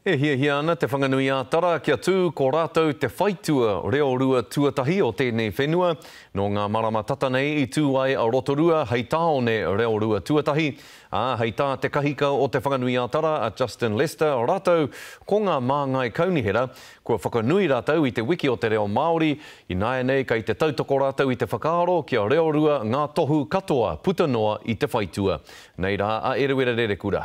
E hiahia ana Te Whanganui-ā-Tara kia tū ko rātou te whaitua reo rua tuatahi o tēnei whenua. Nō ngā marama tata nei i tū ai a Rotorua hei tāone reo rua tuatahi, ā, hei tā te kahika o Te Whanganui-ā-Tara a Justin Lester rātou ko ngā māngai kaunihera kua whakanui rātou i te wiki o te reo Māori, ināianei kei te tautoko rātou i te whakaaro kia reo rua ngā tohu katoa puta noa i te whaitua. Nei rā a Eruera Rerekura.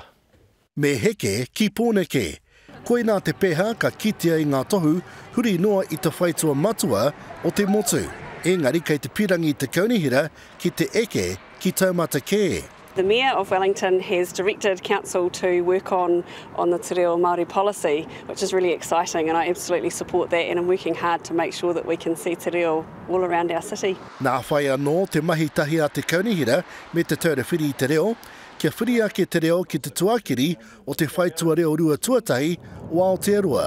Me heke ki Pōneke. Koinā te peha ka kitea i ngā tohu huri noa i te whaitua matua o te motu, engari kei te pirangi te kaunihera ki te eke ki taumata kē. The Mayor of Wellington has directed Council to work on on the Te Reo Māori policy, which is really exciting and I absolutely support that and am working hard to make sure that we can see te reo all around our city. Nā whai anō te mahitahi a te kaunihera me Te Taura Whiri i te Reo, kia whiri ake te reo ki te tuakiri o te whaitua reo rua tuatahi o Aotearoa.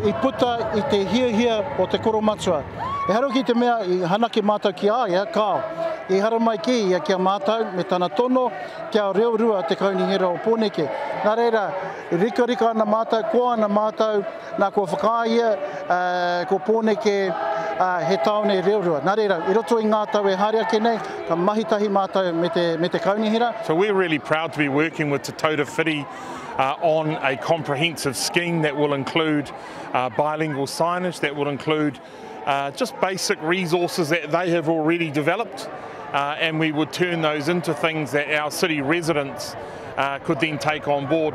I puta i te hiahia o te koromatua. Ehara ki te mea i hanake mātou ki a ia, kāo, i haramai kē ia ki a mātou me tana tono kia reo rua te kaunihera o Pōneke. Nā reira, rikarika ana mātou, koa ana mātou, Nā, kua whakaaea ko Pōneke he tāone reo rua. Nā reira, i roto i ngā tau e haere ake nei, ka mahi tahi mātou me te, me te kaunihera. So we're really proud to be working with Te Taura Whiri uh, on a comprehensive scheme that will include uh, bilingual signage, that will include uh, just basic resources that they have already developed, uh, and we would turn those into things that our city residents uh, could then take on board.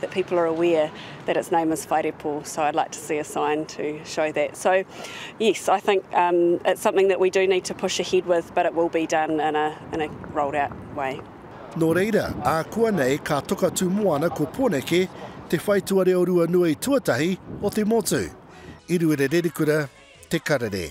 that people are aware that its name is Whairepo, so I'd like to see a sign to show that. So, yes, I think um, it's something that we do need to push ahead with, but it will be done in a, in a rolled out way. Nō reira, ākuanei ka toka tūmoana ko Poneke te whaitua reo rua nui tuatahi o te motu. I Ruerererikura, Te Karere.